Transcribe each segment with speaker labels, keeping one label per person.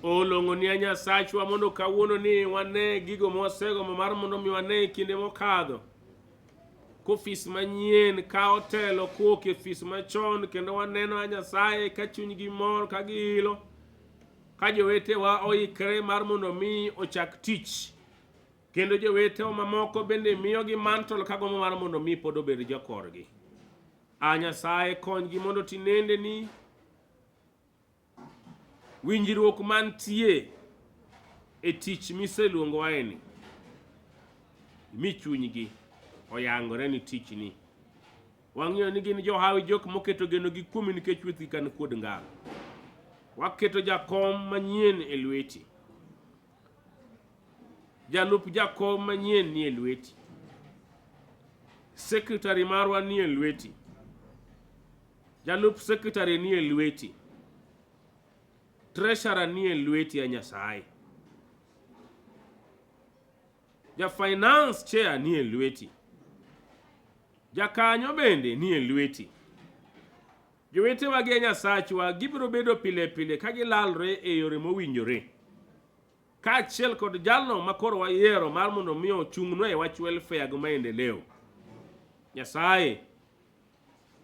Speaker 1: olong'onia nyasachwa mondo kawuono ni wane gigo mwasegombo mar mondo mi wane e kinde mokadho kofis manyien ka otelo kowuok e fis machon kendo waneno a nyasaye ka chunygi mor ka giilo ka jowetewa oikre mar mondo mi ochak tich kendo jowetewa mamoko bende miyogi mantol ka gombo mar mondo mi pod obed jokorgi a nyasaye konygi mondo tinendeni Winjruok mantie e tich miseluongowaeni mi chunygi oyangore ni tichni. Wang'eyo ni gin johawi jok moketo genogi kuomi nikech wethgi kan kuod ngang'. Waketo jakom manyien e lweti. Jalup jakom manyien ni e lweti. Sekretari marwa ni e lweti. Jalup secretary nie lweti. Treasurer nie lweti ya Nyasaye. Ja finance chair nie lweti. Jakanyo bende nie lweti. Jowetewa gi Nyasachwa gibiro bedo pile pile ka gilalre e yore mowinjore kaachiel kod jalno ma koro wayiero mar mondo mi ochung'nwa e wach welfare gi maendeleo. Nyasaye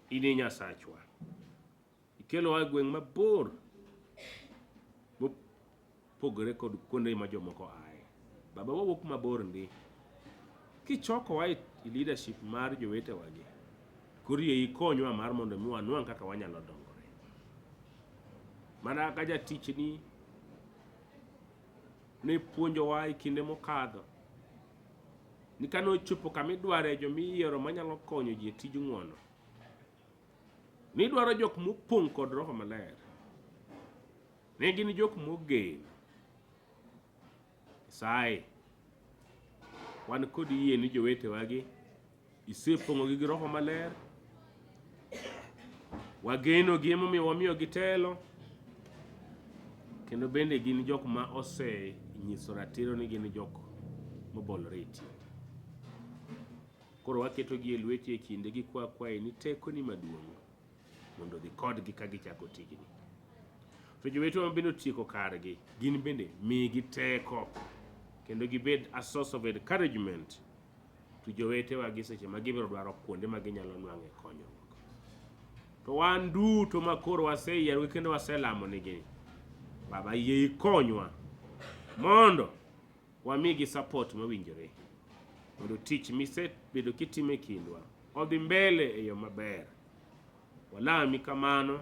Speaker 1: In e Nyasachwa. Ikelowa e gweng' mabor mopogore kod kuonde ma jomoko aye. Baba wawuok mabor ndi. Kichokowa e leadership mar jowetewa gi, koro yie ikonywa mar mondo mi wanwang' kaka wanyalo dongore. Mana ka jatichni ne puonjowa e kinde mokadho, Ni ka nochopo kama idware jo miyiero manyalo konyo ji e tij ng'wono. Nidwaro jok mopong' kod Roho Maler. Ne gin jok mogen. Nyasaye, wan kod yie ni jowetewagi isepong'ogi gi Roho Maler Wagenogi emomiyo wamiyogi telo kendo bende gin jok ma osenyiso ratiro ni gin jok mobolore e tich. Koro waketogi e lweti e kindegi kwa kwayi ni tekoni maduong' mondo odhi kodgi ka gichako tijni. To jowetewa ma bende otieko kargi, gin bende migi teko kendo gibed a source of encouragement to jowetewa gi seche ma gibiro dwaro kuonde ma ginyalo nwang'e konyruok. To wan duto ma koro waseyiergi kendo waselamo nigi, Baba yie ikonywa mondo wamigi support mowinjore mondo tich misebedo kitime kindwa odhi mbele e yo maber. Walami kamano